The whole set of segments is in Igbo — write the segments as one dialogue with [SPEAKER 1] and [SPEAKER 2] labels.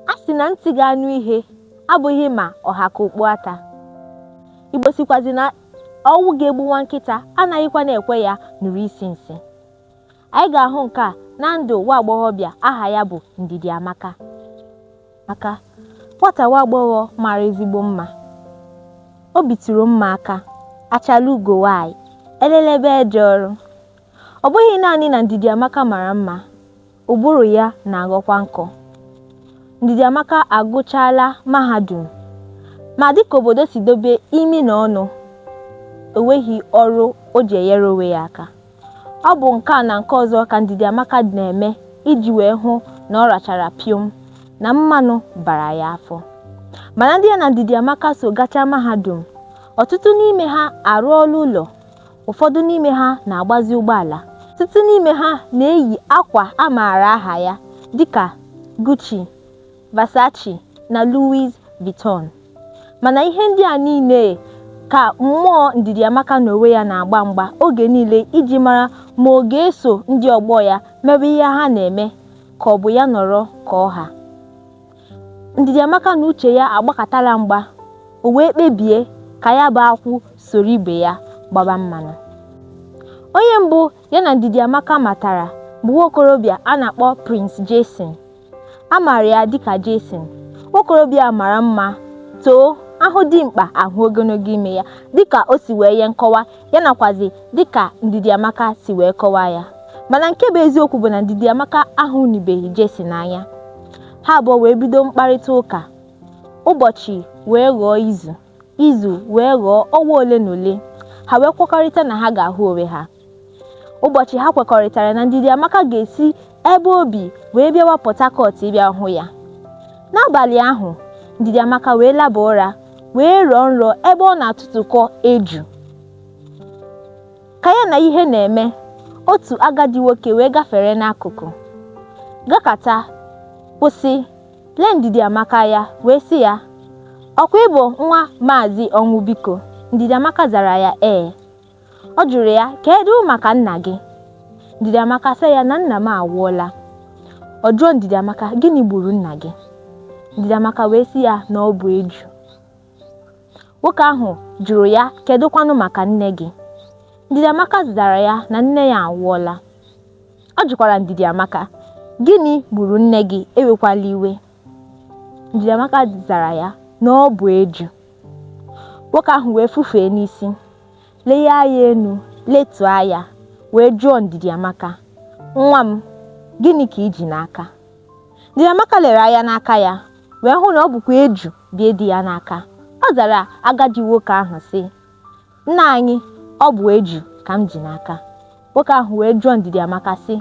[SPEAKER 1] A sị na ntị ga-anụ ihe abụghị ma ọ ha ka okpu ata. Igbo sikwazi na ọnwụ ga-egbu nwa nkịta anaghịkwa na-ekwe ya nụrụ isi nsị. Anyị ga-ahụ nke a na ndụ nwa agbọghọbịa aha ya bụ Ndidi Amaka. Amaka nwata nwa agbọghọ mara ezigbo mma. O bitụrụ mma aka, achala ugo nwaanyị, elelebe eje ọrụ. Ọ bụghị naanị na Ndidi Amaka mara mma, Ụbụrụ ya na-aghọkwa nkọ. Ndidiamaka agụchaala mahadum ma dịka obodo si dobe imi na ọnụ, o nweghị ọrụ o ji enyere onwe ya aka. Ọ bụ nke a na nke ọzọ ka Ndidiamaka na-eme iji wee hụ na ọ rachara pịọm, na mmanụ bara ya afọ. Mana ndị ya na Ndidiamaka so gachaa mahadum, ọtụtụ n'ime ha arụọla ụlọ, ụfọdụ n'ime ha na-agbazi ụgbọala ọtụtụ n'ime ha na-eyi akwa a maara aha ya dịka Gucci, Versace na Louis Vuitton mana ihe ndị a niile ka mmụọ Ndidi Amaka na onwe ya na-agba mgba oge niile iji mara ma ọ ga-eso ndị ọgbọ ya mebe ihe ha na-eme ka ọ bụ ya nọrọ ka ọ ha. Ndidiamaka na uche ya agbakatala mgba, o wee kpebie ka ya bụ akwụ soro ibe ya gbaba mmanụ. Onye mbụ ya na Ndidiamaka matara bụ nwaokorobịa a na-akpọ Prince Jason. A maara ya dịka Jason. Nwaokorobịa a mara mma, too, a hụ dimkpa a hụ ogologo imi ya dịka o si wee nye nkọwa ya nakwazi dịka Ndidi Amaka si wee kọwaa ya mana nke bụ eziokwu bụ na Ndidi Amaka ahụnibeghị Jason anya ha abụọ wee bido mkparịta ụka ụbọchị wee ghọọ izu izu wee ghọọ ọnwa ole na ole ha wee kwekọrịta na ha ga-ahụ onwe ha ụbọchị ha kwekọrịtara na Ndidi Amaka ga-esi ebe o bi wee bịawa Port Harcourt ịbịa hụ ya. N'abalị ahụ, Ndidiamaka wee laba ụra wee rọọ nrọ ebe ọ na-atụtụkọ eju. Ka ya na ihe na-eme, otu agadi nwoke wee gafere n'akụkụ, gakata, kwụsị, lee Ndidiamaka anya wee sị ya, Ọkwa ị bụ nwa Maazị Ọnwụbiko? Ndidiamaka zara ya ee. Ọ jụrụ ya, Kedu maka nna gị? Ndidi Amaka sị ya na nna m anwụọla. Ọ jụọ Ndidi Amaka, Gịnị gburu nna gị? Ndidi Amaka wee sị ya na ọ bụ eju. Nwoke ahụ jụrụ ya, Kedu kwanụ maka nne gị? Ndidi Amaka zara ya na nne ya anwụọla. Ọ jụkwara Ndidi Amaka, Gịnị gburu nne gị? Ewekwala iwe. Ndidi Amaka zara ya na ọ bụ eju. Nwoke ahụ wee fufee n'isi, lee anya enu, letuo anya, wee jụọ Ndidi Amaka, Nwa m, gịnị ka i ji n'aka? Ndidi Amaka lere anya n'aka ya wee hụ na ọ bụkwa eju bụ ihe dị ya n'aka. Ọ zara agadi nwoke ahụ sị, Nna anyị, ọ bụ eju ka m ji n'aka. Nwoke ahụ wee jụọ Ndidi Amaka sị,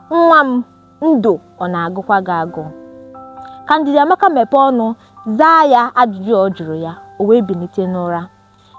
[SPEAKER 1] Nwa m, ndụ ọ na-agụkwa gị agụụ? Ka Ndidi Amaka mepee ọnụ zaa ya ajụjụ ọ jụrụ ya, o wee bilite n'ụra.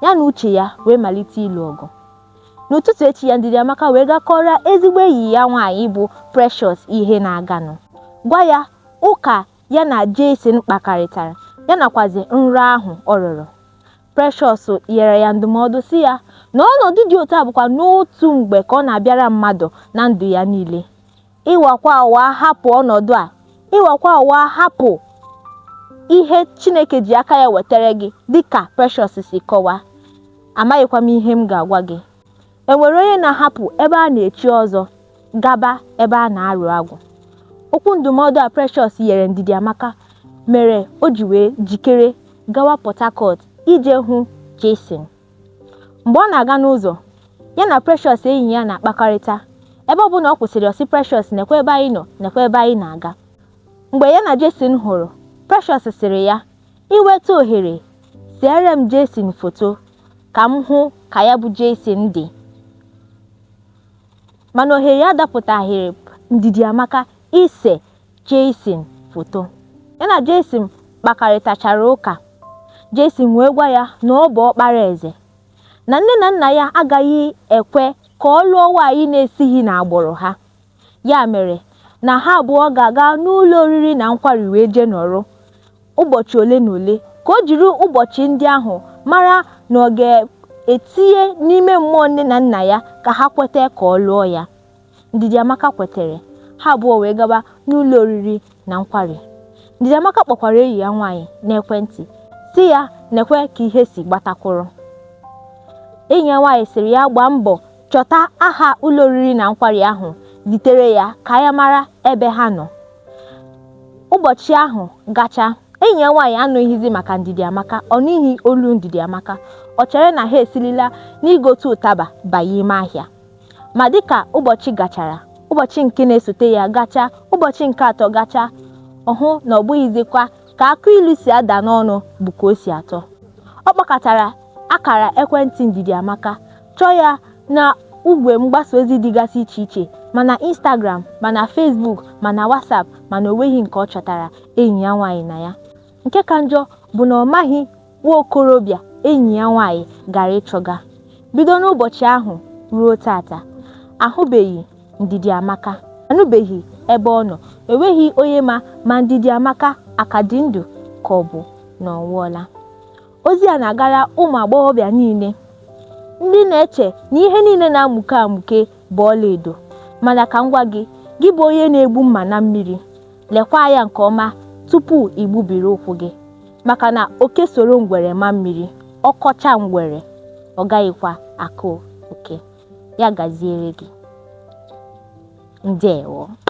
[SPEAKER 1] Ya na uche ya wee malite ịlụ ọgụ. N'ụtụtụ echi ya Ndidi Amaka wee gaa kọọrọ ezigbo enyi ya nwaanyị bụ Precious ihe na-aganụ. Gwa ya ụka ya na Jason kpakọrịtara, ya nakwazi nrọ ahụ ọ rọrọ. Precious nyere ya ndụmọdụ sị ya na ọnọdụ dị otu a bụkwa n'otu mgbe ka ọ na-abịara mmadụ na ndụ ya niile. Ị nwakwa anwa hapụ ọnọdụ a, ị nwakwa anwa hapụ ihe Chineke ji aka ya wetara gị dịka Precious si kọwa. Amaghịkwa m ihe m ga-agwa gị. Enwere onye na-ahapụ ebe a na-echi ọzọ gaba ebe a na-arụ agwụ. Okwu ndụmọdụ a Precious nyere Ndidi Amaka mere o ji wee jikere gawa Port Harcourt ije hụ Jason. Mgbe ọ na-aga n'ụzọ, ya na Precious enyi ya na-akpakọrịta. Ebe ọ bụla ọ kwụsịrị ọ sị Precious nekwa ebe anyị nọ nekwa ebe anyị na-aga. Mgbe ya na Jason hụrụ, Precious sịrị ya, i nweta ohere, seere m Jason foto. ka m hụ ka ya bụ Jason dị mana ohere ya adapụtaghịrị Ndidi Amaka ise Jason foto ya na Jason kpakarịtachara ụka Jason wee gwa ya na ọ bụ ọkpara eze na nne na nna ya agaghị ekwe ka ọ lụọ nwaanyị na-esighị n'agbụrụ ha Ya mere, na ha abụọ ga-aga n'ụlọ oriri na nkwari wee jee nọrọ ụbọchị ole na ole ka o jiri ụbọchị ndị ahụ mara na ọ ga-etinye n'ime mmụọ nne na nna ya ka ha kweta ka ọ lụọ ya. Ndidi Amaka kwetere, ha abụọ wee gaba n'ụlọ oriri na nkwari Ndidi Amaka kpọkwara enyi ya nwaanyị n'ekwentị sị ya nekwe ka ihe si gbatakwụrụ enyi ya nwaanyị sịrị ya gbaa mbọ chọta aha ụlọ oriri na nkwari ahụ zitere ya ka ya mara ebe ha nọ ụbọchị ahụ gacha enyi ya nwaanyị anụghịzi maka Ndidi Amaka ọ nụghị olu Ndidi Amaka ọ chere na ha esilila n'igote ụtaba banye ime ahịa Ma dị ka ụbọchị gachara, ụbọchị nke na-esote ya gacha, ụbọchị nke atọ gacha, ọ hụ na ọ bụghịzikwa ka akụ ilu si ada n'ọnụ bụ ka o si atọ. Ọ kpọkatara akara ekwentị Ndidiamaka, chọọ ya na igwe mgbasa ozi dịgasị iche iche, ma na Instagram, ma na Facebook, ma na WhatsApp, mana o nweghị nke ọ chọtara enyi ya nwaanyị na ya. nke ka njọ bụ na ọ maghị nwa okorobịa enyi ya nwaanyị gara ịchọga bido n'ụbọchị ahụ ruo tata ahụbeghị Ndidi Amaka anụbeghị ebe ọ nọ enweghị onye ma ma Ndidi Amaka aka dị ndụ ka ọ bụ na ọ nwụọla ozi a na-agara ụmụ agbọghọbịa niile ndị na-eche na ihe niile na-amụke amụke bụ ọlaedo mana ka m gwa gị gị bụ onye na-egbu mma na mmiri lekwa anya nke ọma tupu i gbubiri ụkwụ gị maka na oke soro ngwere maa mmiri ọ kọchaa ngwere ọ gaghịkwa akọ oke ya gaziere gị ndewo